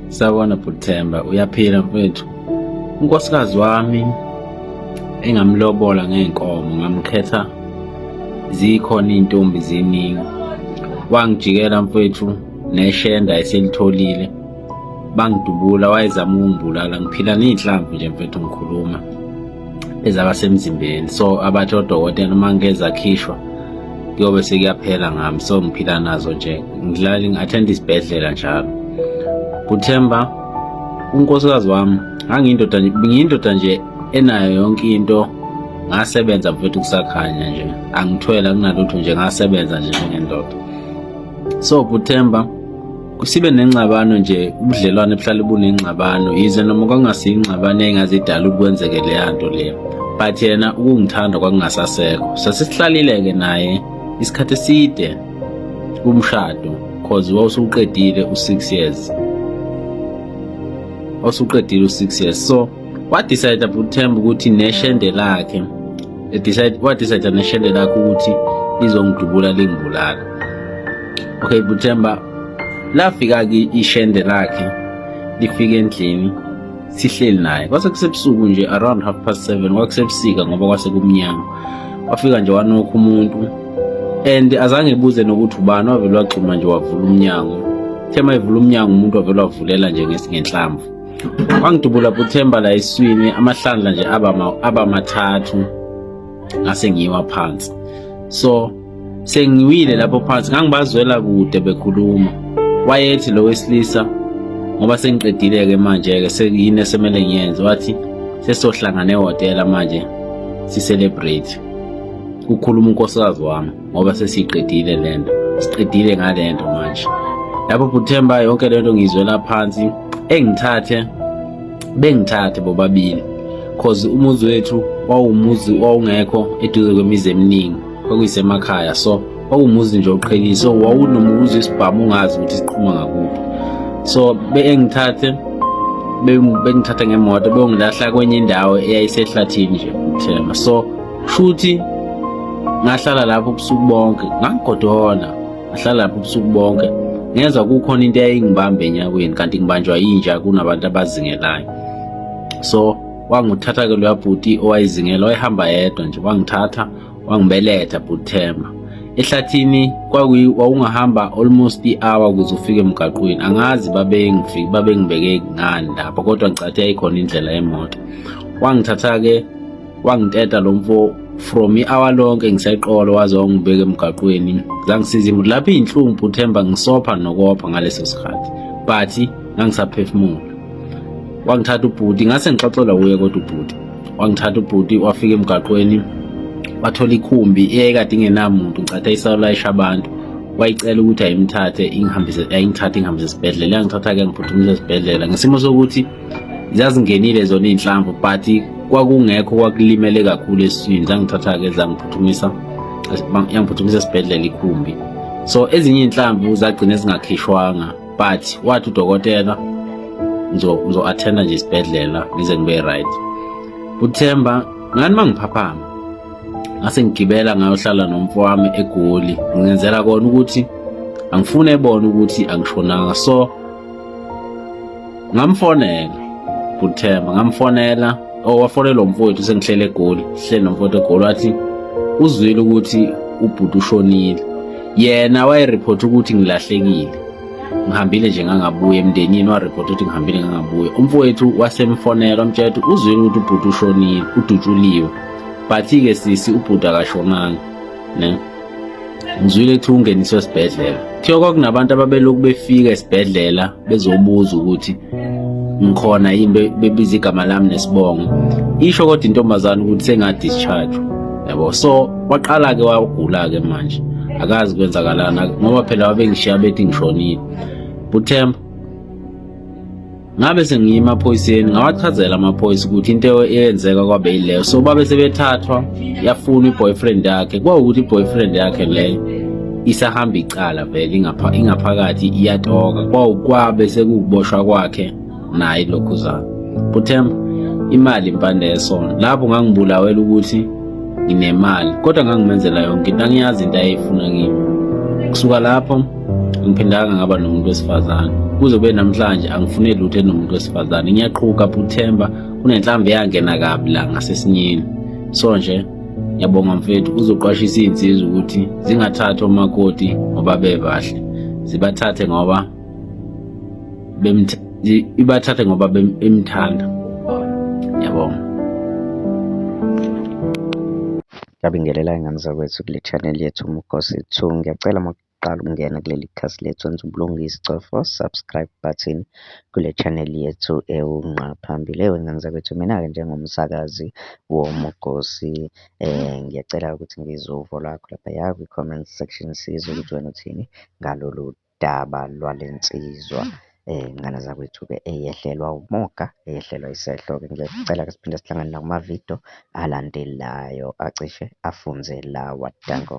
Sawona Buthemba uyaphila mfethu. Unkosikazi wami engamlobola ngeenkomo ngamkhetha zikhona izintombi ziningi. Wangijikela mfethu neshenda eselitholile. Bangidubula wayezama ukungibulala ngiphila nezinhlamvu nje mfethu ngikhuluma. ezaba semzimbeni so abathi odokotela uma ngike zakhishwa kuyobe sekuyaphela ngami so ngiphila nazo nje ngilali ngi-athenda isibhedlela njalo kuthemba unkosikazi wami ngangiyindoda ngiyindoda nje enayo yonke into ngasebenza mfethu kusakhanya nje angithwele akunalutho nje ngasebenza nje njengendoda so kuthemba sibe nengxabano nje ubudlelwane buhlale bunengxabano yize noma kwangasiyingxabano engazidala ukuthi kwenzeke leya nto leyo but yena ukungithanda kwakungasasekho sasisihlalile-ke naye isikhathi eside kumshado cause wawusuqedile u-six years wawusuqedile u-six years so wadecide uthemba ukuthi neshende lakhe wadecide neshende lakhe ukuthi lizongidubula lingibulala okay buthemba lafika ke ishende lakhe lifika endlini sihleli naye kwase kusebusuku nje around half past 7 kwakusebusika ngoba kwase kumnyama wafika nje wanokho umuntu and azange ebuze nokuthi ubani wavele waxhuma nje wavula umnyango thema evula umnyango umuntu wavele wavulela nje ngenhlamvu wangidubula buthemba la eswini amahlandla nje aba mathathu ngase ngiwa phansi so sengiwile lapho phansi ngangibazwela kude bekhuluma wayethi lo wesilisa ngoba sengiqedile-ke manje-ke sekuyini esemele ngiyenze wathi sesohlangana ehhotela manje si-celebrate kukhuluma unkosikazi wami ngoba sesiyiqedile le nto siqedile ngale nto manje lapho bhuthemba yonke le nto ngiyizwela phansi engithathe bengithathe bobabili cause umuzi wethu wawumuzi wawungekho eduze kwemizi eminingi kwakuyisemakhaya so wawumuzi nje oqhelile so wawunomuzi isibhamu ungazi ukuthi siqhuma ngakuphi so bengithathe bengithatha ngemoto beyongilahla kwenye indawo eyayisehlathini nje uthemba so futhi ngahlala lapho ubusuku bonke ngangigodola ngahlala lapho ubusuku bonke ngenza kukhona into eyayingibamba enyaweni kanti ngibanjwa yinja kunabantu abazingelayo so wangithatha ke loya bhuti owayizingela wayehamba yedwa nje wangithatha wangibeletha bhuti Themba ehlathini kwakuyi wawungahamba almost i-hour ukuze ufike emgaqweni angazi babengifike babengibeke ngani lapho kodwa ngicathe yayikhona indlela yemoto wangithatha-ke wangiteta lo mfo from i-hour lonke ngiseqolo waze wangibeka emgaqweni zangisiza imuntu lapho iy'nhlungu bhuthemba ngisopha nokopha ngaleso sikhathi but ngangisaphefumula wangithatha ubhuti ngase ngixoxelwa kuye kodwa ubhuti wangithatha ubhuti wafika emgaqweni wathola ikhumbi eyayikade ingenamuntu ngicatha isawulayisha abantu wayicela ukuthi ayimthathe ingihambise ayingithathe ingihambise esibhedlela yangithatha-ke ngiphuthumise esibhedlela ngesimo sokuthi zazingenile zona iy'nhlamvu but kwakungekho kwakulimele kakhulu esiswini zangithatha-ke zangiphuthumisa yangiphuthumisa esibhedlela ikhumbi so ezinye iy'nhlamvu zagcina zingakhishwanga but wathi udokotela ngizo-athenda nje isibhedlela ngize ngibe right uthemba ngani uma ngiphaphama ngase ngigibela ngayohlala nomfo wami egoli ngenzela kona ukuthi angifune ebona ukuthi angishonanga so ngamfonela kuthemba ngamfonela owafonela oh, umfowethu sengihlele egoli sihlele nomfowethu egoli wathi uzwile ukuthi ubhuti ushonile yena wayeripotha ukuthi ngilahlekile ngihambile nje ngangabuye emndenini waripotha ukuthi ngihambile ngangabuye umfowethu wasemfonela wamtshela ukuthi uzwile ukuthi ubhuti ushonile udutshuliwe but-ke sisi ubhuti akashonanga ne ngizwile kuthiwa ungeniswe esibhedlela kuthiwa kwakunabantu ababelokhu befika esibhedlela bezobuza ukuthi ngikhona yini bebiza igama lami nesibongo isho kodwa intombazane ukuthi senga-discharge yabo so waqala-ke wagula-ke manje akazi kwenzakalana ngoba phela wabengishiya bethi ngishonile buthemba ngabe sengiye emaphoyiseni ngawachazela amaphoyisa ukuthi into eyenzeka kwabe yileyo so babe sebethathwa yafuna i-boyfriend yakhe kwawukuthi i-boyfriend yakhe leyo isahamba icala vele ingaphakathi iyatoka kwawukwabe sekukuboshwa kwakhe naye lokhuzana buthemba imali impande yesona lapho ngangibulawela ukuthi nginemali kodwa ngangimenzela yonke into angiyazi into ayeyifuna kimi kusuka lapho angiphindanga ngaba nomuntu wesifazane kuze kube namhlanje angifune lutho enomuntu wesifazane ngiyaqhuka buthemba kunenhlambe yangena kabi la ngasesinyeni so nje ngiyabonga mfethu uzoqwashisa iy'nsizwa ukuthi zingathathi omakoti ngoba bebahle zibathathe ngoba ibathathe ngoba emthanda ngiyabonga ngiyabingelela ingane zakwethu kule channel yethu umgosi 2 ngiyacela uqala ukungena kuleli khasi lethu wenza ubulungisa cofa subscribe button kule channel yethu ewunqa phambili ewe ngane zakwethu mina-ke njengomsakazi womugosi eh ngiyacela ukuthi ngizwe uvo lwakho laphaya kwi-comment section sizwe ukuthi wena uthini ngalolu daba lwale nsizwa eh ngane zakwethu-ke eyehlelwa umoga eyehlelwa isehlo-ke ngiyacela ke siphinde sihlangane nakumavidiyo alandelayo acishe afunze lawa danko